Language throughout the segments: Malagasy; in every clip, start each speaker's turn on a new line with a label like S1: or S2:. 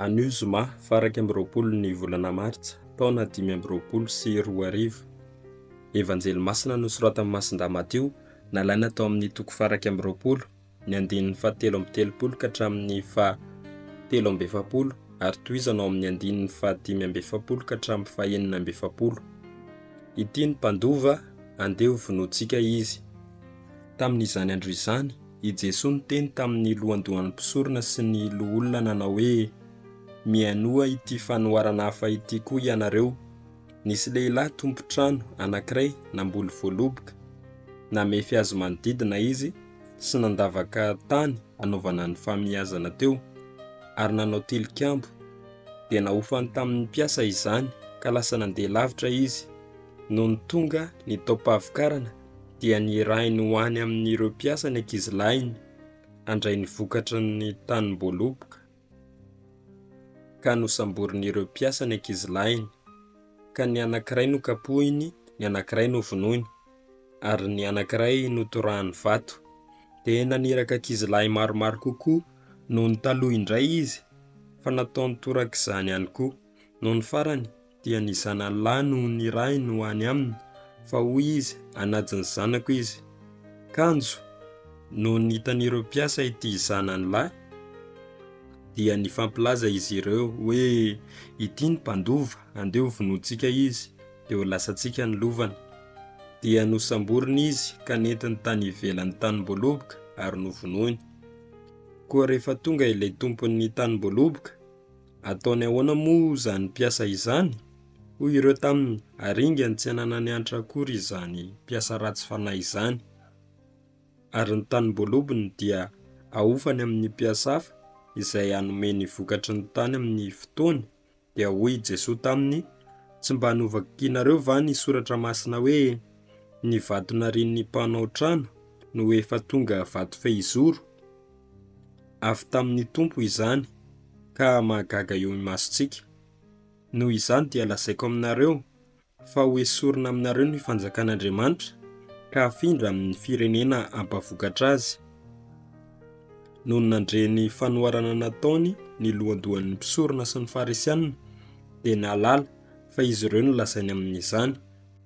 S1: Anio zoma faha iraika amby roapolo ny volana martsa taona dimy amby roapolo sy roa arivo. Evanjely masina nosoratan'i Masindahy Matio nalaina tao amin'ny toko faha iraika amby roapolo ny andininy faha telo amby telopolo ka hatramin'ny faha telo amby efapolo ary tohizana ao amin'ny andininy faha dimy amby efapolo ka hatramin'ny faha enina amby efapolo. Ity ny mpandova, andeha ho vonointsika izy. Tamin'izany andro izany, i Jesoa niteny tamin'ny lohandohan'ny mpisorona sy ny loholona nanao hoe, Mihainoa ity fanoharana hafa ity koa ianareo, Nisy lehilahy tompon-trano anankiray namboly voaloboka. Namefy azy manodidina izy sy nandavaka tany hanaovana ny fahamiazana teo, ary nanao tilikambo. Dia nahofany tamin'ny mpiasa izany, ka lasa nandeha lavitra izy. Nony tonga ny taom-pahavokarana, dia nirahiny ho any amin'ireo mpiasa ny ankizilahiny handray ny vokatry ny tanim-boaloboka, ka nosamborin'ireo mpiasa ny ankizilahiny, ka ny anankiray nokapohiny, ny anankiray novonoiny, ary ny anankiray notorahany vato. Dia naniraka ankizilahy maromaro kokoa noho ny taloha indray izy, fa nataony torak'izany ihany koa. Nony farany, Dia ny zanalahy no nirahiny ho any aminy, fa hoy izy, Hanaja ny zanako izy. Kanjo, nony hitan'ireo mpiasa ity zanany lahy, dia nifampilaza izy ireo, hoe, Ity ny mpandova, andeha hovonointsika izy, dia ho lasantsika ny lovany. Dia nosamboriny izy, ka nentiny tany ivelan'ny tanim-boaloboka, ary novonoiny. Koa rehefa tonga ilay tompon'ny tanim-boaloboka, Ataony ahoana moa izany mpiasa izany? hoy ireo taminy, ary ingany tsy ananany antra akory izany mpiasa ratsy fanahy izany. Ary ny tanim-boalobony dia ahofany amin' ny mpiasa hafa izay hanome ny vokatry ny tany amin' ny fotoany, dia hoy i Jesoa taminy, Tsy mba novakianareo va ny soratra masina hoe, Ny vato narian' ny mpanao trano no efa tonga vato fehizoro? Avy tamin'ny Tompo izany ka mahagaga eo imasontsika. Noho izany dia lazaiko aminareo fa ho esorina aminareo ny fanjakan'Andriamanitra ka hafindra amin'ny firenena hampavokatra azy. Nony nandre ny fanoharana nataony ny lohandohan'ny mpisorona sy ny Farisianina dia nahalala fa izy ireo no lazainy amin'izany.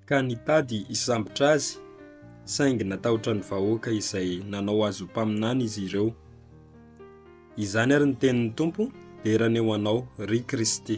S1: ka nitady hisambotra azy, saingy natahotra ny vahoaka izay nanao azy ho mpaminany izy ireo. Izany ary ny tenin'ny Tompo, Dera ny ho anao, ry Kristy.